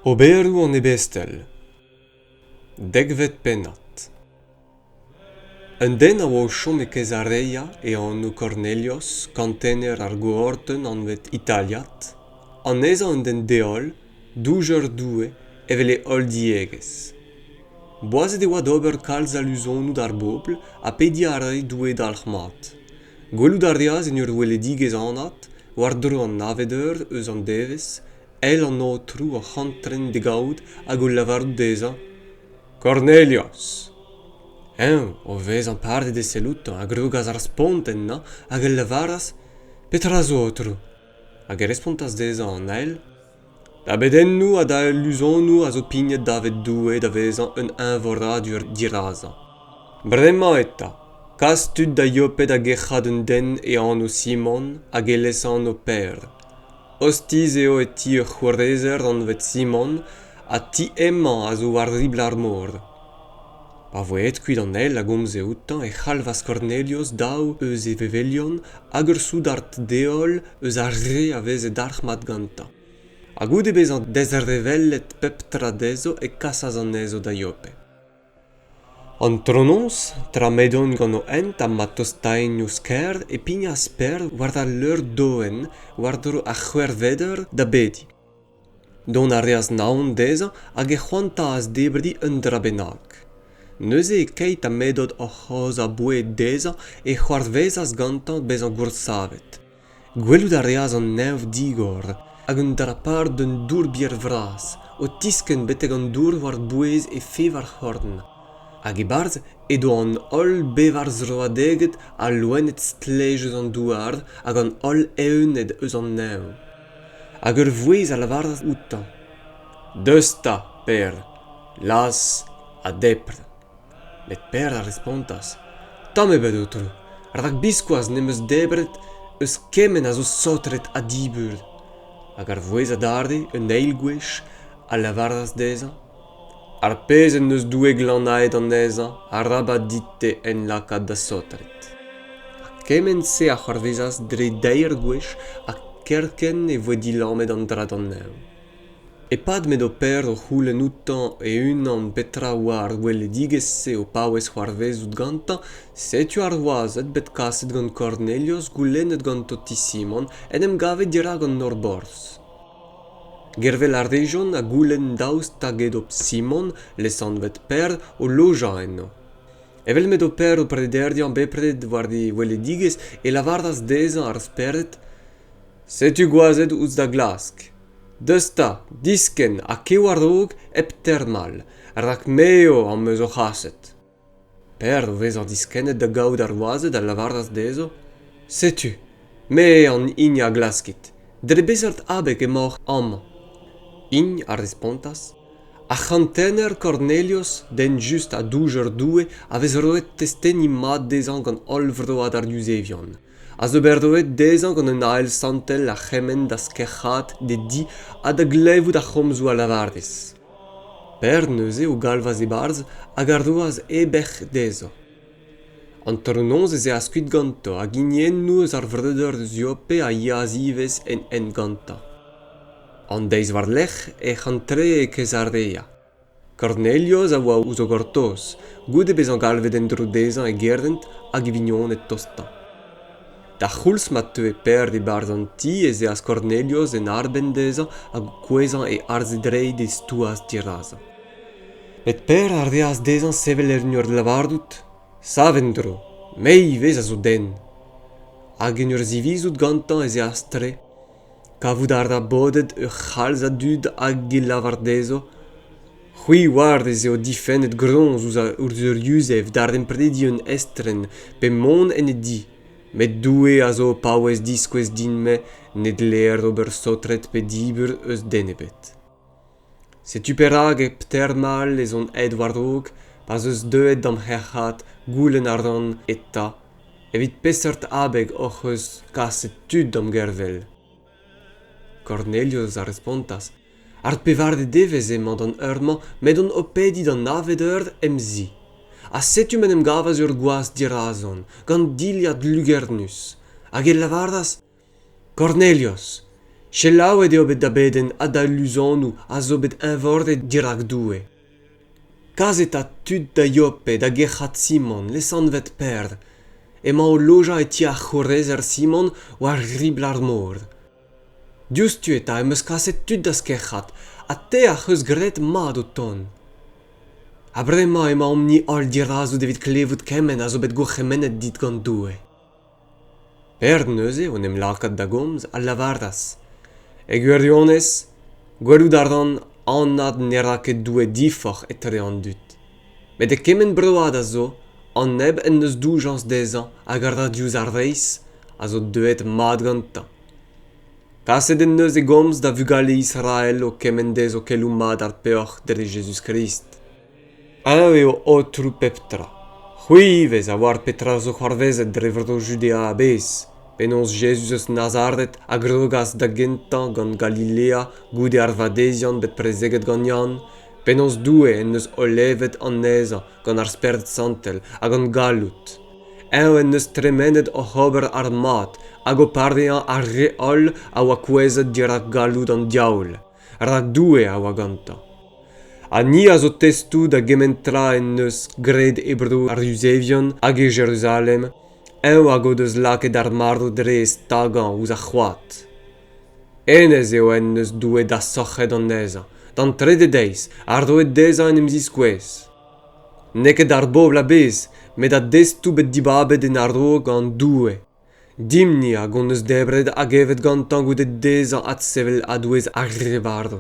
Oberoù an ebestel dekvet pennad Un den a oa o chom e Caesarea e anv Cornelios, kantener ar goordenn anvet italiat, anezhañ un den deol, doujer Doue evel e holl diegezh. Boazet e oa d'ober kalz a luzonoù d'ar bobl ha pediñ a rae Doue dalc'h-mat. Gwelout a reas en ur weledigezh anat, war-dro an navet eur eus an devezh, eil an aotrou arc'hantren d'e gavout hag o lavarout dezhañ Kornelios. Eñ, o vezañ paret e sell outañ, a grogas ar spont ennañ hag a lavaras Petra zo, aotrou? Hag e respontas dezhañ an ael da bedennoù ha da iluzonoù a zo pignet davet Doue da vezañ un eñvoradur dirazañ. Bremañ eta, kas tud da Yope da gerc'hat un den e anv Simon hag e lesanv Pêr. Ostiz eo e ti ur c'hourezer anvet Simon ha ti hemañ a zo war ribl ar mor. Pa voe aet kuit an eil a gomze outañ e c'halvas Kornelios daou eus e vevelion hag ur soudard deol eus ar re a veze dalc'hmat gantañ. Ha goude bezañ dezrevellet pep tra dezho e kasas anezho da Yope. Antronoz, tra m'edont gant o hent ha ma tostaent ouzh kêr, e pignas Pêr war al leur-doenn war-dro ar c'hwec'hveder da bediñ. Dont a reas naon dezhañ hag e c'hoantaas debriñ un dra bennak. Neuze, keit ha m'edod oc'h aozañ boued dezhañ, e c'hoarvezas gantañ bezañ goursavet. Gwelout a reas an neñv digor hag un dra-par d'un dourbier vras o tiskenn betek an dour war-bouez e fevar c'horn. Hag e-barzh edo an holl bevar zroadeged ha loened stlej eus an douar hag an holl evned eus an neñv. Hag ur vouezh a lavaras outañ Deus 'ta, Per, las ha depr. Met Per a respontas Tamm ebet, aotrou, rak biskoazh ne'm eus debret eus kement a zo saotret ha dibur. Hag ar vouezh adarre un eil gwech a lavaras dezhañ Ar pezh en deus Doue glanaet anezhañ arabat dit-te hen lakaat da saotret. Ha kement-se a c'hoarvezas dre deir gwech ha kerkent e voe dilammet an dra d'an neñv. E-pad m'edo Per o c'houlenn outañ e-unan petra a oa ar gweledigezh-se o paouez c'hoarvezout gantañ, setu ar wazed bet kaset gant Kornelios goulennet ganto ti Simon en em gavet dirak an nor-borzh. Gervel a rejont ha goulenn daoust hag edo Simon, lesanvet Per, o lojañ eno. Evel m'edo Per o prederiañ bepred war e weledigezh, e lavaras dezhañ ar spered Setu gwazed ouzh da glask. Deus 'ta, diskenn ha kev a-raok hep termal, rak me eo am eus o c'haset. Per, o vezañ diskennet da gaout ar wazed, a lavaras dezho, Setu, me an hini a glaskit. Dre beseurt abeg emaoc'h amañ? Int a respontas, Ar c'hantener Kornelios, den just ha doujer Doue, a vez roet testeni mat dezhañ gant holl vroad ar Yuzevion, a zo bet roet dezhañ gant un ael santel a c'hemenn da skec'haat d'e di ha da glevout ar c'homzoù a lavarez. Pêr neuze o galvas e-barzh hag a roas e bec'h dezhañ. Antronoz ez eas kuit gantañ hag hiniennoù eus ar vreudeur Ziope a yeas ivez en hent gantañ. An deiz war-lerc'h ec'h antre e Kezarea. Kornelios a oa ouzh o gortoz, goude bezañ galvet en-dro dezhañ e gerent hag e vignoned tostañ. d'ar c'houlz ma teue Per e-barzh an ti ez eas Kornelios en arbenn dezhañ hag o kouezhañ e arz e dreid e stouas dirazañ. Met Per a reas dezhañ sevel en ur lavarout Sav en-dro, me ivez a zo den. Hag en ur zivizout gantañ ez eas tre. Kavout a ra bodet ur c'halz a dud hag e lavar dezho c'hwi oar ez eo difennet groñs ouzh ur yuzev daremprediñ un estren pe mont en e di met Doue a zo o paouez diskouez din-me ne dleer ober saotret pe dibur eus den ebet. Setu perak e termal ez on aet war-raok pa'z eus deuet da'm c'herc'hat goulenn a ran eta evit peseurt abeg hoc'h eus kaset tud da'm gervel. Kornelius a respontas, Ar pevare devezh emañ d'an eur-mañ met on o pediñ d'an navet eur em zi. Ha setu m'en em gavas ur gwaz dirazon, gant dilhad lugernus. Hag e lavaras kornelios selaouet eo bet da bedenn ha da luzonoù a zo bet eñvoret dirak doue kaset ha tud da yope da gerc'hat simon lesanvet per emañ o lojañ e ti ar c'hourrezer simon war ribl ar mor diouzhtu eta em eus kaset tud d'az kerc'hat ha te ac'h eus graet mat o tont ha bremañ emaomp-ni holl dirazout evit klevout kement a zo bet gourc'hemennet dit gant doue Perzh neuze o 'n em lakaat da gomz a lavaras, e gwirionez, gwelout a ran anat ne ra ket Doue diforc'h etre an dud. Met e kement broad a zo, an neb en deus doujañs dezhañ hag a ra diouzh ar reizh, a zo deuet mat gantañ. Kaset en deus e gomz da vugale Israel o kemenn dezho keloù mat ar peoc'h dre Jezuz-Krist. Eñ eo aotrou pep tra. C'hwi ivez a oar petra zo c'hoarvezet dre vro Judea a-bezh, penaos Jezuz eus Nazaret a grogas da gentañ gant Galilea goude ar vadeziant bet prezeget gant Yann, penaos Doue en deus olevet anezhañ gant ar Spered Santel ha gant galloud. Eñ en deus tremenet oc'h ober ar mad hag o parvezañ ar re holl a oa kouezhet dirak galloud an diaoul. rak Doue a oa gantañ. Ha ni a zo testoù da gement tra en deus graet e bro ar Yuzevion hag e Jeruzalem, eñ hag o deus lakaet ar marv dre e stagañ ouzh ar c'hoad. Hennezh eo en deus Doue dasorc'het anezhañ, d'an trede deiz, ha roet dezhañ en em ziskouez. N'eo ket d'ar bobl a-bezh, met da destoù bet dibabet en a-raok gant Doue. dimp-ni hag hon eus debret hag evet gantañ goude dezhañ adsevel a-douez ar re varv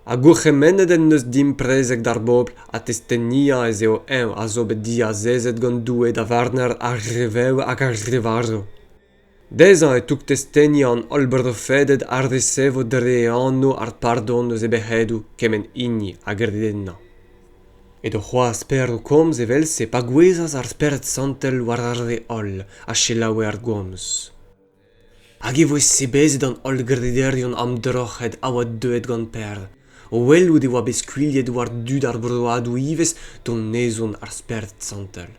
ha gourc'hemennet en deus dimp prezeg d'ar bobl ha testeniañ ez eo eñ a zo bet diazezet gant Doue da varner ar re vev hag ar re varv dezhañ e toug testeni an holl brofeded a resevo dre e anv ar pardon eus e bec'hedoù kement hini a gred ennañ edo c'hoazh Per o komz evel-se pa gouezhas ar Spered Santel war ar re holl a selaoue ar gomz. Hag e voe sebezet an holl grederion amdroc'het a oa deuet gant Per o welout e oa bet skuilhet war dud ar broadoù ivez donezon ar Spered Santel.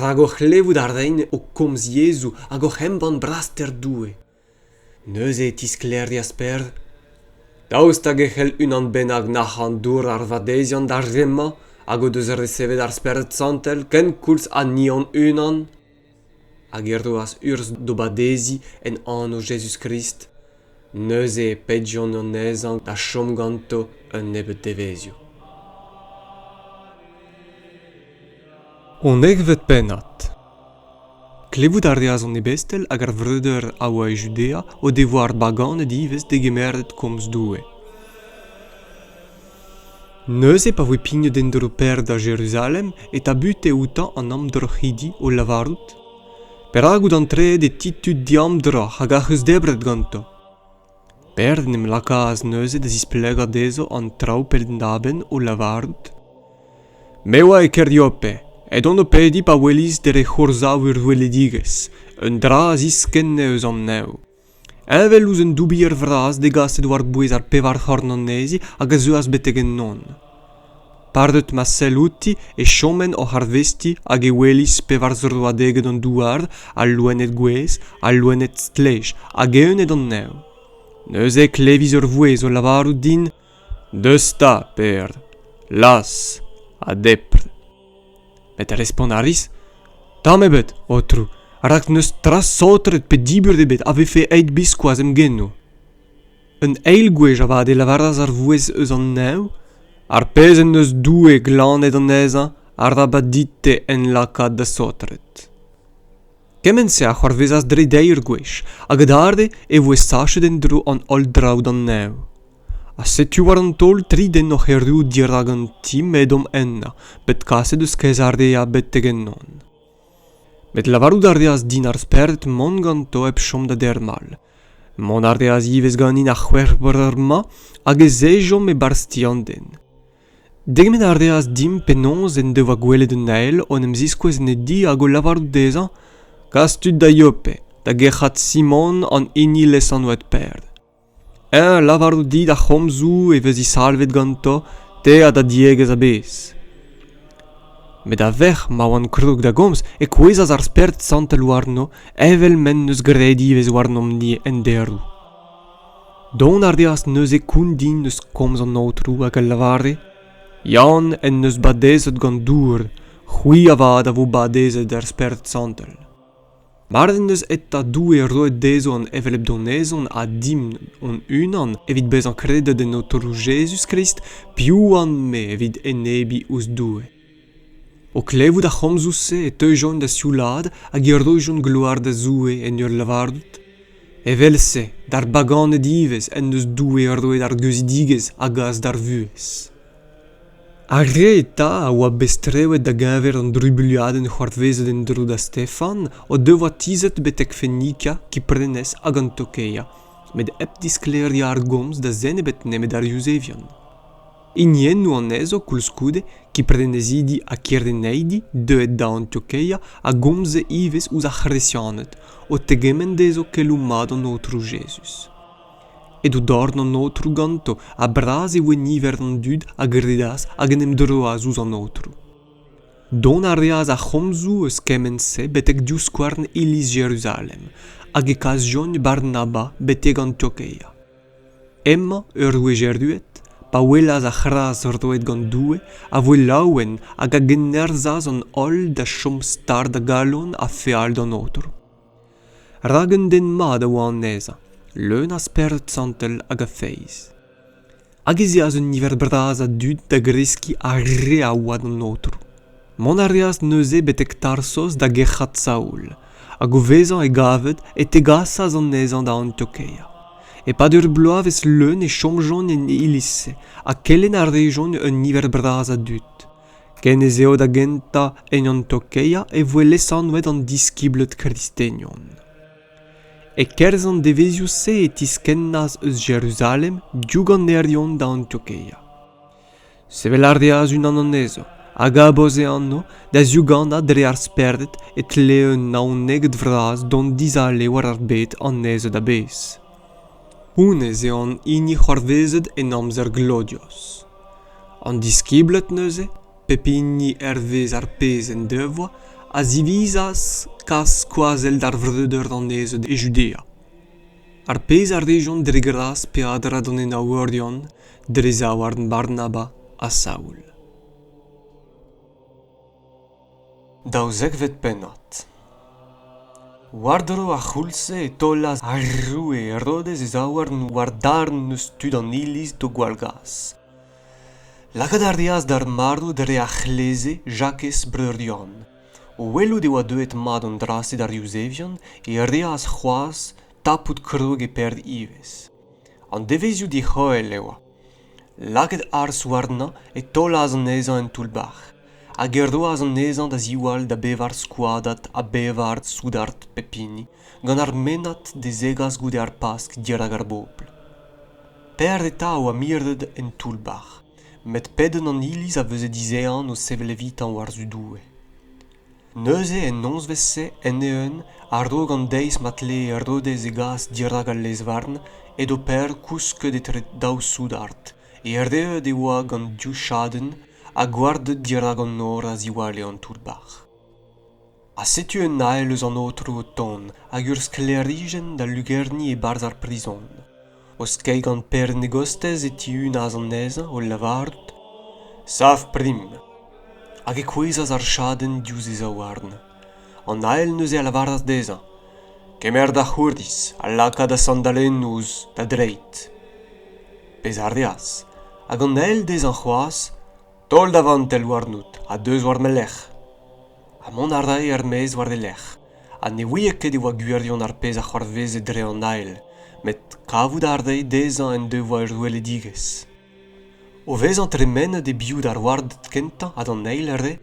Rak o c'hlevout a reint o komz yezhoù hag oc'h embann braster Doue. neuze e tisklêrias Per. Daoust hag e c'hell unan bennak nac'hañ dour ar vadeziant d'ar re-mañ hag o deus resevet ar Spered Santel kenkoulz ha ni hon-unan? Hag e roas urzh d'o badeziñ en anv Jezuz-Krist. Neuze e pedjont anezhañ da chom ganto un nebeud devezhioù. Honnezhvet pennad Klevout a reas an ebestel hag ar vreudeur a oa e Judea o devoa ar baganed ivez degemeret komz Doue. Neuze pa voe pignet en-dro Pêr da Jeruzalem e tabute outañ an amdroc'hidi o lavarout: Perak out antreet e ti tud diamdroc'h hag ac'h eus debret ganto? Perzh en em lakaas neuze da zisplegañ dezho an traoù penn-da-benn o lavarout Me oa e Keriope, edon o pediñ pa welis dre c'hourzav ur weledigezh, un dra a ziskenne eus an neñv. Heñvel ouzh un doubier vras degaset war-bouez ar pevar c'horn anezhi hag a zeuas betek ennon. padet ma sell outi e chomen oc'h arvestiñ hag e welis pevar zroadeged an douar al loened gouez al loened stlej hag evned an nev neuze klevis ur vouezh o lavarout din deus 'ta per las ha depr met respont a ris tamm ebet aotrou rak n'eus tra saotret pe diburt ebet a vefe aet biskoazh em genoù Un eil gwech avat e lavaras ar vouezh eus an neñv ar pezh en deus Doue glannet anezhañ a ra va dit-te en lakaat da saotret. Kement-se a c'hoarvezas dre deir gwech, hag adarre e voe sachet en-dro an holl draoù d'an neñv. Ha setu war an taol tri den oc'h erru dirak an ti m'edom ennañ, bet kaset eus kaezarea betek ennon. met lavarout a reas din ar spered mont ganto hep chom da dermal mont a reas ivez ganin ar c'hwec'h eur-mañ hag ez ejomp e-barzh ti an den degemenn a reas dimp penaos en devoa gwelet un ael o en em ziskouez en e di hag o lavarout dezhañ kas tud da yope da gerc'hat simon an hini lesanvet pêr Eñ a lavarout dit ar c'homzoù e vez disalvet ganto te ha da diegezh a-bezh. Met a-vec'h ma oan kroug da gomz e kouezhas ar Spert Santel warno evel m'en deus graet ivez warnomp-ni en deroù. Dont a reas neuze koundin eus komz an Aotrou hag a lavare Yann en deus badezet gant Dour, c'hwi avat a vo badezet er Spert Santel. Mard en deus eta Doue roet dezho an hevelep donezon ha dimp hon-unan evit bezañ kredet en Aotrou Jezuz-Krist, piv oan-me evit enebiñ ouzh Doue? O klevout ar c'homzoù-se e teujont da sioulaat hag e roijont gloar da Zoue en ur lavarout, Evel-se d'ar baganed ivez en deus Doue roet ar geuzidigezh a gas d'ar vuhez. Ar re eta a oa bet strewet da-geñver an drubuilhadenn c'hoarvezet en-dro da Stefan o devoa tizhet betek Fenika, Kiprenez hag an Tokeia, met hep disklêriañ ar gomz da zen ebet nemet ar Yuzevion. Hiniennoù anezho koulskoude, Kiprenezidi ha Kireneidi deuet da Antiokeia, a gomze ivez ouzh ar C'hresianed, o tegement dezho keloù mat an Aotrou Jezuz. Edo dorn an aotrou ganto ha bras e voe niver an dud a gredas hag en em droas ouzh an aotrou. Dont a reas ar c'homzoù eus kement-se betek divskouarn iliz Jeruzalem, hag e kas John Barnaba betek Antiokeia. Emañ ur wech erruet, pa welas ar c'hras roet gant Doue, a voe laouen hag a gennerzhas an holl da chom stard a galon ha feal d'an aotrou. rak un den mat a oa anezhañ leun a spered santel hag a feiz hag ez eas un niver bras a dud da greskiñ ar re a oa d'an aotrou mont a reas neuze betek tarsos da gerc'hat saoul hag o vezañ e gaved e tegasas anezhañ da antiokeia e-pad ur bloavezh leun e chomjont en iliz ha kelenn a rejont un niver bras a dud ken ez eo da gentañ en antokea e voe lesanvet an diskibled kristenion e-kerzh an devezhioù-se e tiskennas eus jeruzalem diouganerion da antokea sevel a reas unan anezho a gabas e anv da ziuganañ dre ar spered e tlee un naoneged vras dont dizale war ar bed anezhañ a-bezh honnezh eo an hini c'hoarvezet en amzer glodios An diskibled neuze, pep hini hervez ar pezh en devoa, a zivizas kas skoazell d'ar vreudeur anezhañ e Judea. Ar pezh a rejont dre gras pe a-dra d'an enaouerion dre zaouarn Barnaba ha Saul. daouzekvet pennad war-dro ar c'houlz-se e taolas ar roue herodez e zaouarn war darn eus tud an iliz d'o gwallgas lakaat a reas d'ar marv dre ar c'hleze jakez breur yann o welout e oa deuet mat an dra-se d'ar yuzevion e reas c'hoazh tapout krog e perv ivez an devezhioù dic'hoel e oa lakaet harz warnañ e taolas anezhañ en toull-bac'h hag e roas anezhañ da ziwall da bevar skoadad ha bevar soudard pep hini gant ar mennad da zegas goude ar pask dirak ar bobl Per eta a oa miret en toull-bac'h met pedenn an iliz a veze dizehan o sevel evitañ war-zu Doue Neuze, en nozvezh-se, end-eeun, a-raok an deiz ma tlee Herodez e gas dirak al lez-varn, edo Per kousket etre daou soudard. Erruet e oa gant div chadenn ha gwarded dirak an nor a-ziware an toull-bac'h. Ha setu un ael eus an aotrou o tont, hag ur sklêrijenn da lugerniñ e-barzh ar prizon. o skeiñ gant perenn e gostez e tihunas anezhañ o lavarout sav prim hag e kouezhas ar chadenn diouzh e zaouarn an ael neuze a lavaras dezhañ kemer da c'hourdiz ha laka da sandalennoù ouzh da dreid pezh a reas hag an ael dezhañ c'hoazh taol da vantell warnout ha deus war ma lerc'h ha mont a rae er-maez war e lerc'h ha ne ouie ket e oa gwirion ar pezh a c'hoarveze dre an ael met kavout a rae dezhañ en devoa ur weledigezh o vezañ tremenet e-biou d'ar warded kentañ ha d'an eil re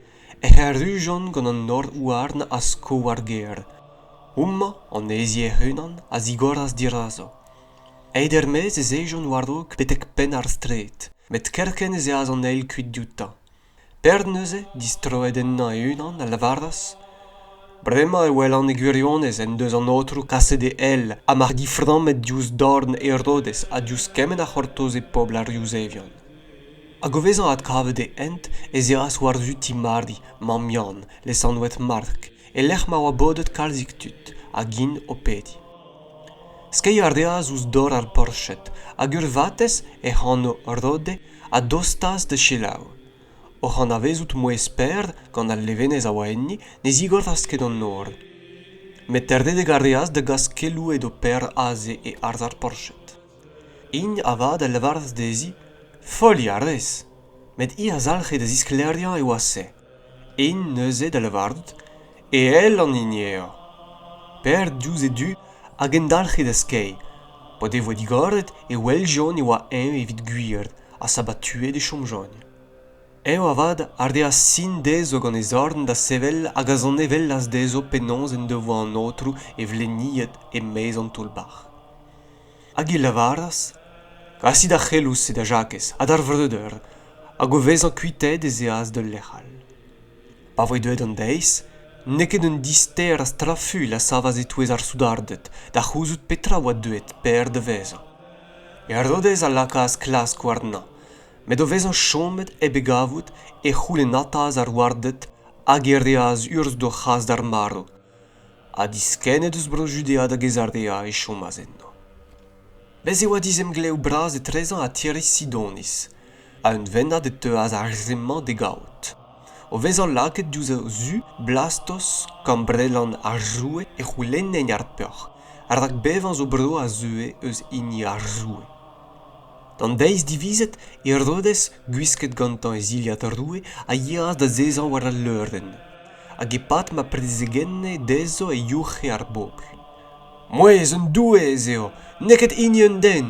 ec'h arrujont gant an nor-houarn a sko war gêr houmañ an hezi hec'h-unan a zigoras dirazo aet er-maez ez ejont war-raok betek penn ar straed met kerkent ez eas an eil kuit dioutañ Perd neuze, distroet ennañ e-unan, a lavaras Bremañ e welan e gwirionez en deus an Aotrou kaset e ell ha mar diframmet diouzh dorn Herodez ha diouzh kement a c'hortoze pobl ar Yuzevion. Hag o vezañ adkavet e hent, ez eas war-zu ti Mari, mamm Yann, lesanvet Mark, e-lec'h ma oa bodet kalzik tud, hag int o pediñ. Skeiñ a reas ouzh dor ar porched, hag ur vatezh, hec'h anv Rode, a dostas da selaou oc'h anavezout mouezh Per gant al levenez a oa enni ne zigorras ket an nor met terdedek a reas da gas keloù edo Per aze e arz ar porched int avat a lavaras dezhi foliañ a rez met hi a zalc'he da zisklêriañ e oa se int neuze da lavarout e ell an hini eo per diouzh e du a gendalc'he da skeiñ p'o devoa digoret e weljont e oa eñ evit gwir ha sabatuet e chomjont eñ avat a reas sin dezho gant e zorn da sevel hag a zanevellas dezho penaos en devoa an aotrou e vleniet e-maez an toull-bac'h Hag e lavaras, Kasit ar c'heloù-se da Jakez ha d'ar vreudeur, hag o vezañ kuitaet ez eas d'ul lec'h all. Pa voe deuet an deiz, n'eo ket un dister a strafuilh a savas e-touez ar soudarded da c'houzout petra a oa deuet Per da vezañ. Herodez a lakaas klask warnañ, met o vezañ chomet hep e gavout, e c'houlennataas ar warded hag e reas urzh d'o c'has d'ar marv. ha diskennet eus Bro-Judea da Gezarea e chomas enno. Bez' e oa dizemglev bras etrezañ ha tiriz Sidoniz, ha un vennad e teuas ar re-mañ d'e gavout. O vezañ lakaet diouzh o zu Blastos, kambrelan ar roue, e c'houlennent ar peoc'h, rak bevañ zo bro a zeue eus hini ar roue. D'an deiz divizet, Herodes, gwisket gantañ e zilhad roue, a yeas da zezañ war al leurenn. hag e-pad ma prezegenne dezho e youc'he ar bobl mouezh un doueez eo n'eo ket hini un den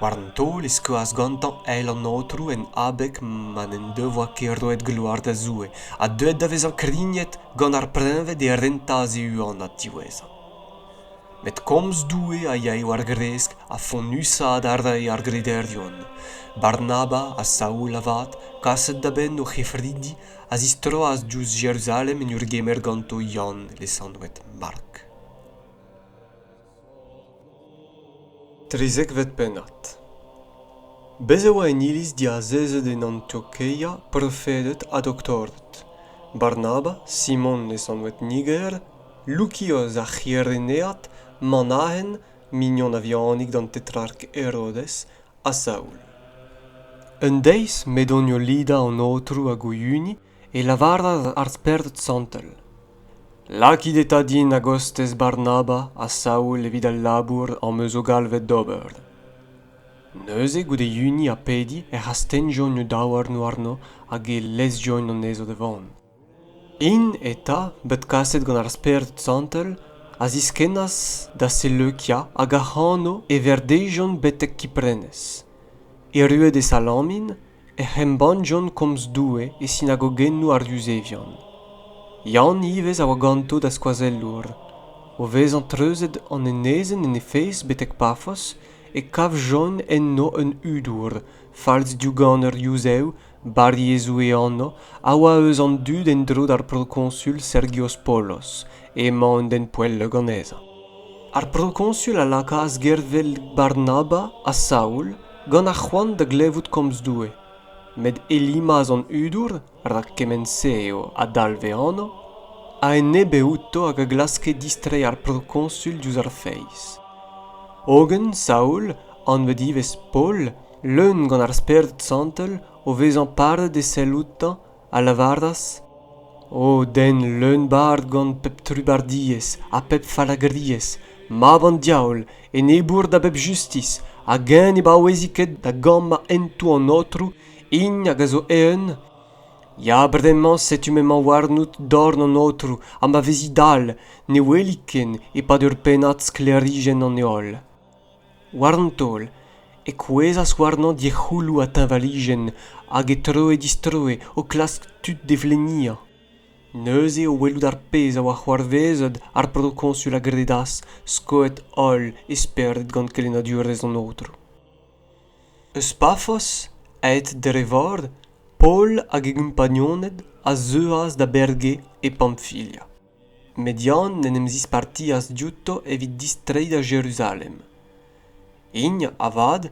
war an taol e skoas gantañ eil an aotrou en abeg ma n'en devoa ket roet gloar da zoue ha deuet da vezañ krignet gant ar preñved e rentas e huanad diwezhañ met komz doue a yae war-gresk ha fonnusaat a rae ar grederion barnaba ha saul avat kaset da benn o c'hefridi a zistroas diouzh Jeruzalem en ur gemer ganto Yann lesanvet Mark. Trizekvet pennad Bez' e oa en iliz diazezet en Antiokeia profeded ha doktorded Barnaba, Simon lesanvet Niger, Lukios ar C'hirenead, Manahen, mignon a-vihanik d'an tetrark Herodes, ha Saul. Un deiz m'edonio lidañ an Aotrou hag o hini e lavaras ar Spered Santel, Lakit eta din a-gostez Barnaba ha Saul evit al labour am eus o galvet d'ober. Neuze, goude hini ha pediñ, ec'h astennjont o daouarn warno hag e lezjont anezho da vont. int eta bet kaset gant ar Spered Santel a ziskennas da Seleukia hag ac'hano e verdejont betek Kiprenez. Erruet e Salamin ec'h embannjont komz Doue e sinagogennou ar Yuzevion. Yann ivez a oa ganto da skoazellour. O vezañ treuzet an enezenn en he fez betek Pafos e kavjont enno un hudour, falz-diougan ur Yuzev barriezoù e anv a oa eus an dud en-dro d'ar prokoñsul Sergios Polos emañ un den poell ganezañ ar prokoñsul a lakaas gervel Barnaba ha Saoul gant ar c'hoant da glevout komz Doue met Elimas an hudour rak kement-se eo a dalv e anv a enebe outo hag a glaske distreiñ ar prokoñsul diouzh ar feiz hogen Saoul anvet ivez Paol Leun gant ar Spered Santel, o vezañ paret e sell outañ, a lavaras, O den leun-bard gant pep trubardiezh ha pep fallagriezh, mab an diaoul, enebour da bep justis, hag eñ ne baouezi ket da gamm a hentoù an Aotrou, hini hag a zo eeun? Ya, bremañ setu m'emañ warnout dorn an Aotrou, ha ma vezi dall, ne weli ken e-pad ur pennad sklêrijenn an heol. war an taol e kouezhas warnañ dic'houloù ha teñvalijenn hag e troe-distroe o klask tud d'e vleniañ neuze o welout ar pezh a oa c'hoarvezet ar prokoñsul a gredas skoet holl e spered gant kelennadurezh an aotrou eus pafos aet dre vor paol hag e gompagnoned a zeuas da berge e pamfilia Median en em zispartias diouto evit distreiñ da Jeruzalem. Int, avat,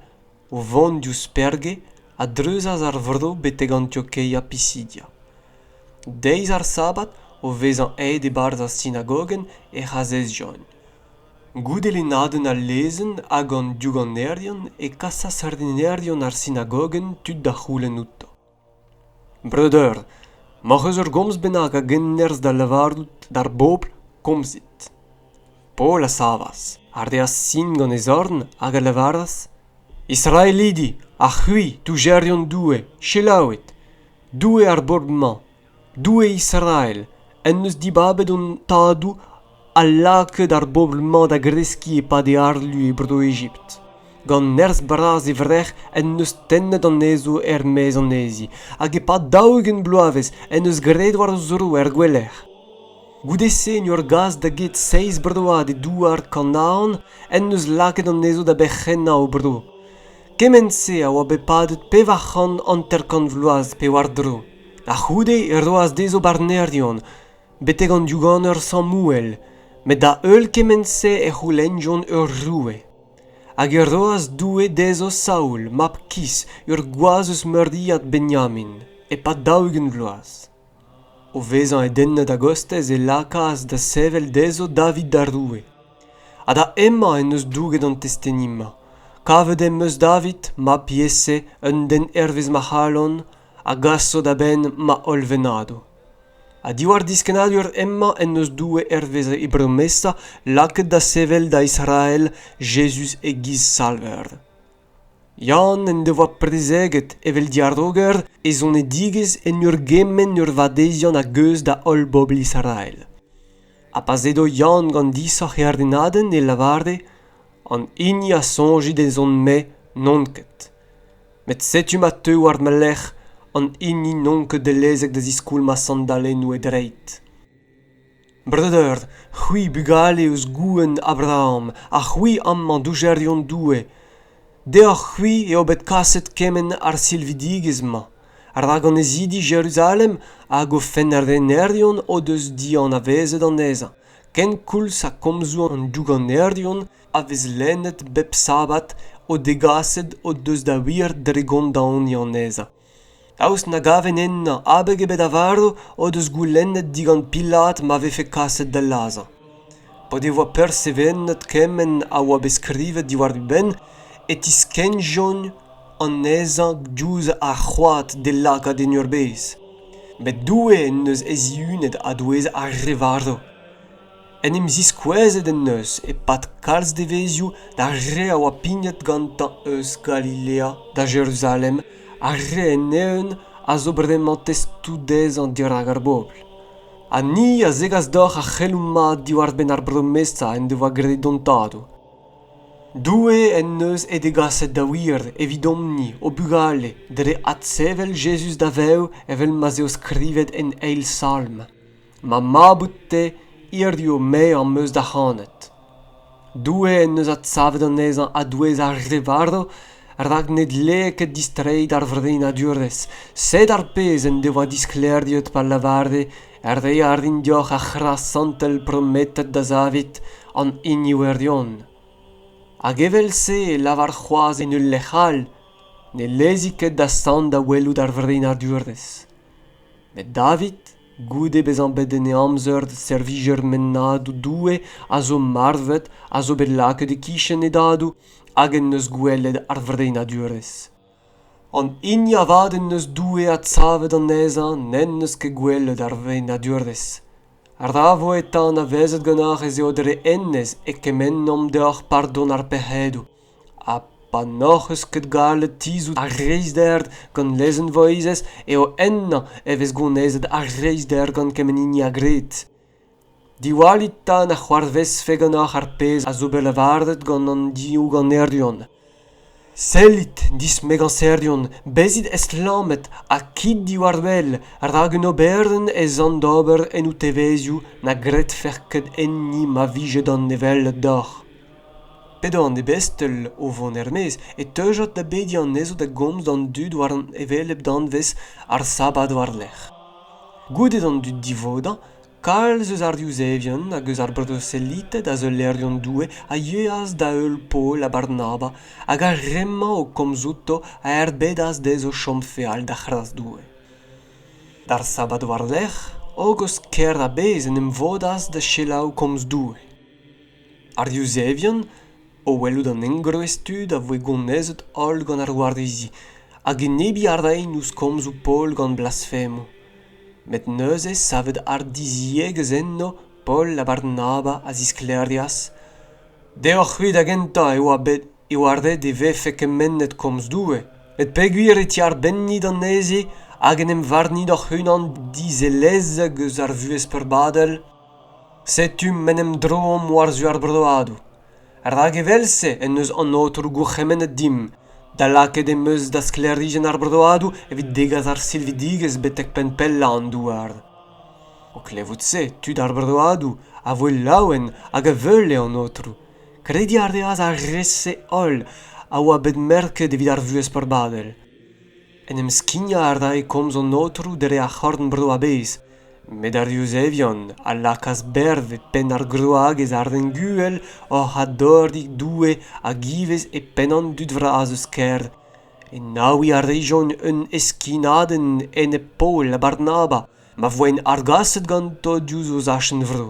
o vont diouzh Perge, a dreuzas ar vro betek Antiokeia Pisidia. Deiz ar Sabad, o vezañ aet e-barzh ar sinagogenn, ec'h azezjont. Goude lennadenn al lezenn hag an douganerion e kasas ardinerion ar sinagogenn tud da c'houlenn outo. breudeur m'hoc'h eus ur gomz bennak a gennerzh da lavarout d'ar bobl komzit paol a savas a reas sin gant e zorn hag a lavaras israelidi ha c'hwi toujerion doue selaouit doue ar bobl-mañ Doue Israel en deus dibabet hon tadoù ha lakaet ar bobl-mañ da greskiñ e-pad e harlu e Bro-Egipt. Gant nerzh bras e vrec'h en deus tennet anezho er-maez anezhi, hag e-pad daou-ugent bloavezh en deus graet war o zro er gouelec'h. Goude-se en ur gas da get seizh broad e douar Kanaan en deus lakaet anezho da berc'hennañ o bro. Kement-se a oa bet padet pevar c'hant hanter-kant vloaz pe war-dro. A-c'houde e roas dezho barnerion betek an douaner Samouel met da-heul kement-se e c'houlennjont ur roue. Hag e roas Doue dezho Saul, mab Kis, ur gwaz eus meuriad Benyamin, e-pad daou-ugent vloaz. O vezañ edennet a-gostez e lakaas da sevel dezho David da roue. Ha da hemañ en deus douget an testeni-mañ. Kavet em eus David, mab Iese, un den hervez ma c'halon, a gaso da benn ma holl vennadoù. Ha diwar diskennadur hemañ en deus Doue hervez e bromesa lakaet da sevel da Israel Jezuz e-giz Salver. Yann en devoa prezeget evel diaroger e zonedigezh en ur gemenn ur vadeziant a-geuz da holl bobl Israel. Ha pa edo Yann gant disoc'h e ardennadenn e lavare an hini a soñje d'ezhomm-me n'on ket. met setu ma teu war ma lerc'h an hini n'on ket dellezek da ziskoulmañ sandalennoù e dreid breudeur c'hwi bugale eus gouenn abraham ha c'hwi amañ doujerion doue deoc'h-c'hwi eo bet kaset kement ar silvidigezh-mañ rak annezidi jeruzalem hag o fennrennerion o deus dianavezet anezhañ kenkoulz ha komzoù an douganerion a vez lennet bep sabad o degaset o deus da wir dre gondaoniñ anezhañ. Daoust na gaven ennañ abeg ebet a varv o deus goulennet digant Pilat ma vefe kaset da lazhañ. Pa devoa persevenet kement a oa bet skrivet diwar e benn e tiskennjont anezhañ diouzh ar c'hoad d'e lakaat en ur bezh. Bet Doue en deus e zihunet a-douez ar re varv. en em ziskouezet en deus e-pad kalz devezhioù d'ar re a oa pignet gantañ eus Galilea da Jeruzalem ar re en-eeun a zo bremañ testoù dezhañ dirak ar bobl ha ni a zegas deoc'h ar c'heloù mat diwar-benn ar bromesa en devoa graet hon tadoù. Doue en deus he degaset da wir evidomp-ni o bugale dre adsevel Jezuz da vev evel ma'z eo skrivet en eil salm. ma mab out-te hiziv me am eus da c'hanet Doue en deus adsavet anezhañ a-douez ar re varv rak ne dlee ket distreiñ d'ar vreinadurezh sed ar pezh en devoa disklêriet pa lavare re a rin deoc'h ar c'hras santel prometet da Zavid an hini wirion hag evel-se e lavar c'hoazh en ul lec'h all ne lezi ket da sant da welout ar vreinadurezh met david goude bezañ bet en e amzer servijer mennadoù doue a zo marvet a zo bet lakaet e-kichen e dadoù hag en deus gwelet ar vrennadurezh an hini avat en deus doue adsavet anezhañ n'en deus ket gwelet ar vrennadurezh ra vo eta anavezet ganeoc'h ez eo dre hennezh e kemennomp deoc'h pardon ar pec'hedoù ha pa n'hoc'h eus ket gallet tizhout ar reizhder gant lezenn voizez eo ennañ e vez gounezet ar reizhder gant kement hini a gred diwallit 'ta na c'hoarvezfe ganeoc'h ar pezh a zo bet lavaret gant an div ganerion sellit dismegañserion bezit estlammet ha kit diwar-wel rak un oberenn ez an d'ober en ho tevezioù na gredfec'h ket enni ma vije d'an hevelep deoc'h p'edo an ebestel o vont er-maez e teujod da bediñ anezho da gomz d'an dud war an hevelep danvez ar sabad war-lerc'h. Goude d'an dud divodañ, kalz eus ar Yuzevion hag eus ar broselited ha seulerion Doue a yeas da heul Paol ha Barnaba hag ar re-mañ o komz outo a erbedas dezho chom feal da c'hras Doue. D'ar sabad war-lerc'h, hogos kêr a-bezh en em vodas da selaou komz Doue. ar yuzevien o welout an engroez tud a voe gonezet holl gant ar warizi hag enebiñ a raent ouzh komzoù Paol gant blasfemoù met neuze savet hardiziegezh enno Paol ha Barnaba a zisklêrias deoc'h-c'hwi da gentañ e oa bet e oa ret e vefe kemennet komz Doue met peogwir e tiarbennit anezhe hag en em varnit hoc'h-unan dizelezek eus ar vuhez peurbadel setu m'en em droomp war-zu ar broadoù rak evel-se en deus an aotroù gourc'hemennet dimp da lakaet em eus da sklêrijenn ar broadoù evit degas ar silvidigezh betek penn pellañ an douar o klevout-se tud ar broadoù a voe laouen hag a veule an aotroù krediñ a reas ar re-se holl a oa bet merket evit ar vuhez peurbadel En em skignañ a rae komz an aotroù dre ar c'horn-bro a-bezh, met ar Yuzevion a lakaas berv e penn ar groagez arenguhel oc'h adoriñ Doue hag ivez e penn an dud vras eus kêr. Enaouiñ a rejont un heskinadenn enep Paol ha Barnaba, ma voent argaset ganto diouzh o zachenn-vro.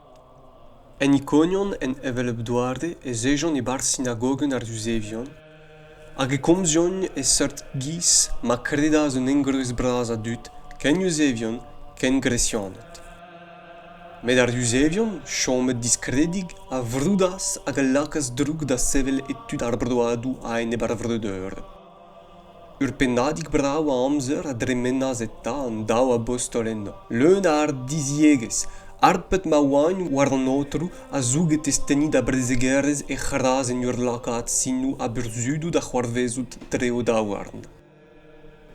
En Ikonion, en hevelep doare, ez ejont e-barzh sinagogenn ar Yuzevion, hag e komzjont e seurt giz ma kredas un engroez bras a dud, ken Yuzevion ken Gresianed. Met ar Yuzevion, chomet diskredig, a vroudas hag a lakaas droug da sevel e tud ar broadoù a-enep ar vreudeur. ur pennadig brav a amzer a dremenas eta an daou abostol enno leun a ardiziegezh harpet ma oaint war an aotrou a zouge testeni da brezegerezh he c'hras en ur lakaat sinoù ha burzhudoù da c'hoarvezout dre o daouarn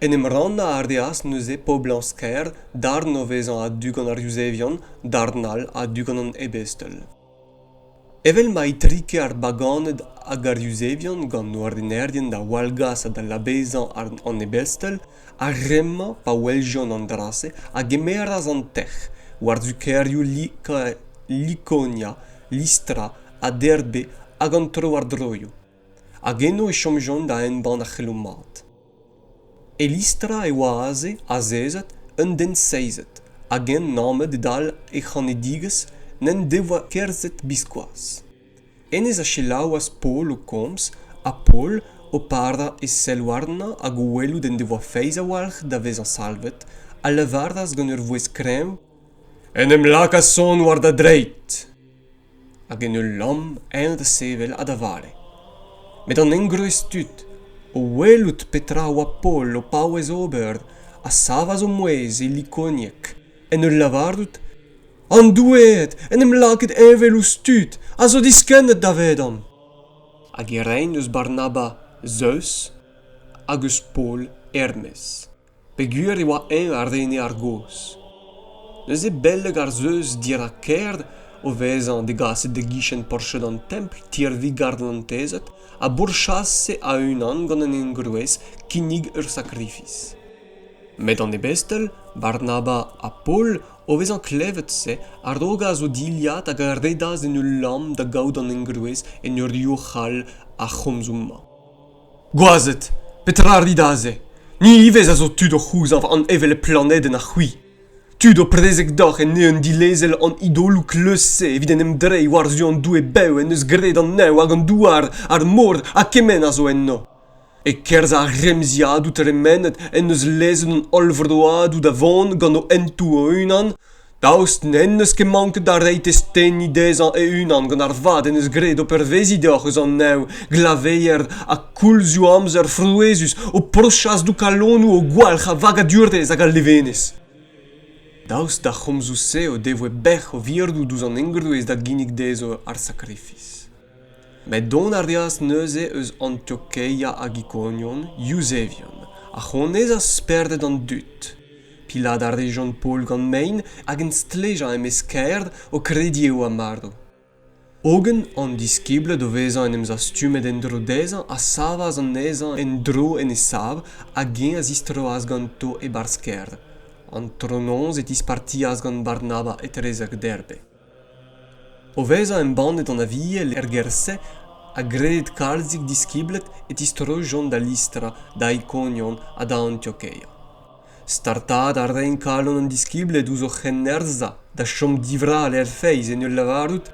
en em rannañ a reas neuze poblañs-kaer darn o vezañ a-du gant ar yuzevion darn all a-du gant an ebestel Evel ma itrike ar baganed hag ar yuzevion gant o renerien da wallgas ha da labezañ an ebestel, ar re-mañ, pa weljont an dra-se, a gemeras an tec'h war-zu kêrioù Likonia, Lystra ha Derbe hag an tro-war-droioù. hag eno e chomjont da embann ar c'heloù mat. Elistra e oa aze azezet un den seizet hag eñ nammet e-dal e c'hanedigezh n'en devoa kerzhet biskoazh. Hennezh a selaouas Paol o komz, ha Paol o parañ e sell warnañ hag o welout en devoa feiz a-walc'h da vezañ salvet, a lavaras gant ur vouezh kreñv: En em laka sonn war da dreid! hag en ul lamm eñ da sevel ha da vale met an engroez tud o welout petra a oa Paol o paouez ober a savas o mouezh e likonieg en ul lavarout an doueed en em lakaet heñvel ouzh tud a zo diskennet davedomp hag e raent eus Barnaba Zeus hag eus Paol hermez peogwir e oa-eñ ar rene argozh neuze beleg ar Zeus dirak kêr o vezañ degaset e-gichen porched an templ tirvi garantezed a bourchase a-unan gant an engroez kinnig ur sakrifis met an ebestel barnaba ha paol o vezañ klevet se a rogas o dilhad hag a redas en ul lamm da gaout an engroez en ur youc'hal ar c'homzoù-mañ Gwazed, petra rit aze? Ni ivez a zo tud o c'houzañv an hevelep planedenn ha c'hwi. Tud o prezeg deoc'h en eeun dilezel an idoloù kleuz-se evit en em dreiñ war-zu an doue bev en deus graet an neñv hag an douar, ar mor ha kement a zo enno. E-kerzh ar remziadoù tremenet en deus lezet an holl vroadoù da vont gant o hentoù o-unan, Daoust n'en deus ket manket da reiñ testeni dezhañ e-unan gant ar vad en deus graet o perveziñ deoc'h eus an neñv, glaveier ha koulzioù amzer frouezhus o pourchas doù kalonoù o gwalc'h a vagadurezh hag a levenez. Daoust d'ar c'homzoù-se o devoe bec'h o virdoù douzh an engroez da ginnig dezho ar sakrifis. met dont a reas neuze eus antiokeia hag ikonion yuzevion a c'honezas spered an dud pilat a rejont paol gant mein hag en stlejañ e-mesk-kaer o krediñ eo ar marv hogen an diskibled o vezañ en em zastumet en-dro dezhañ a savas anezhañ en-dro en e sav hag eñ a zistroas ganto e-barzh kêr antronoz e tispartias gant barnaba etrezek derbe O vezañ embannet an Aviel er gêr-se ha graet kalzik diskibled e tistroijont da Listra, da Ikonion ha da Antiokeia. Startaat a raent kalon an diskibled ouzh o c'hennerzhañ da chom divrall er feiz en ul lavarout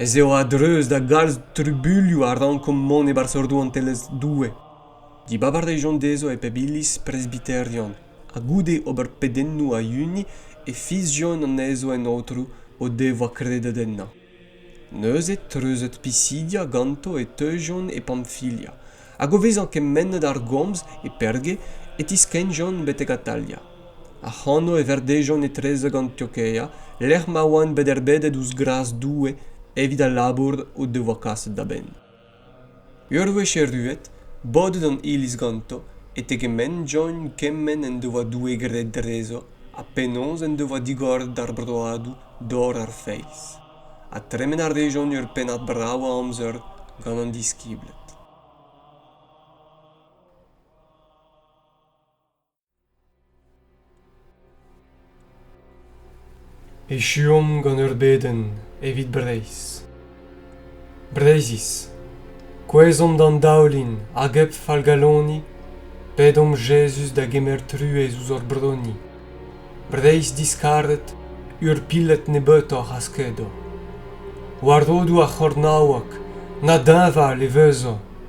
ez eo a-dreuz da galz trubuilhoù a rankomp mont e-barzh rouantelezh Doue. Dibab a rejont dezho e pep iliz presbiterian ha goude ober pedennoù a-hini e fiziont anezho en aotrou o devoa kredet ennañ neuze treuzet pisidia ganto e teujont e pamfilia hag o vezañ kemennet ar gomz e perge e tiskennjont betek atalia ac'hano e verdejont etrezek antiokeia lec'h ma oant bet erbedet ouzh gras doue evit al labour o devoa kaset da benn Ur wech erruet, bodet an iliz ganto, e tegementjont kement en devoa Doue graet drezo ha penaos en devoa digoret d'ar broadoù dor ar feiz, ha tremen a rejont ur pennad brav a amzer gant an diskibled. Echuomp gant ur bedenn evit Breizh. Breizhiz, kouezhomp d'an daoulin hag hep fallgaloni, pedomp Jezuz da gemer truez ouzh hor broni. Breizh diskaret, ur piled nebeutoc'h a skedo. War rodoù ar c'hornaoueg, na deñval e vezo.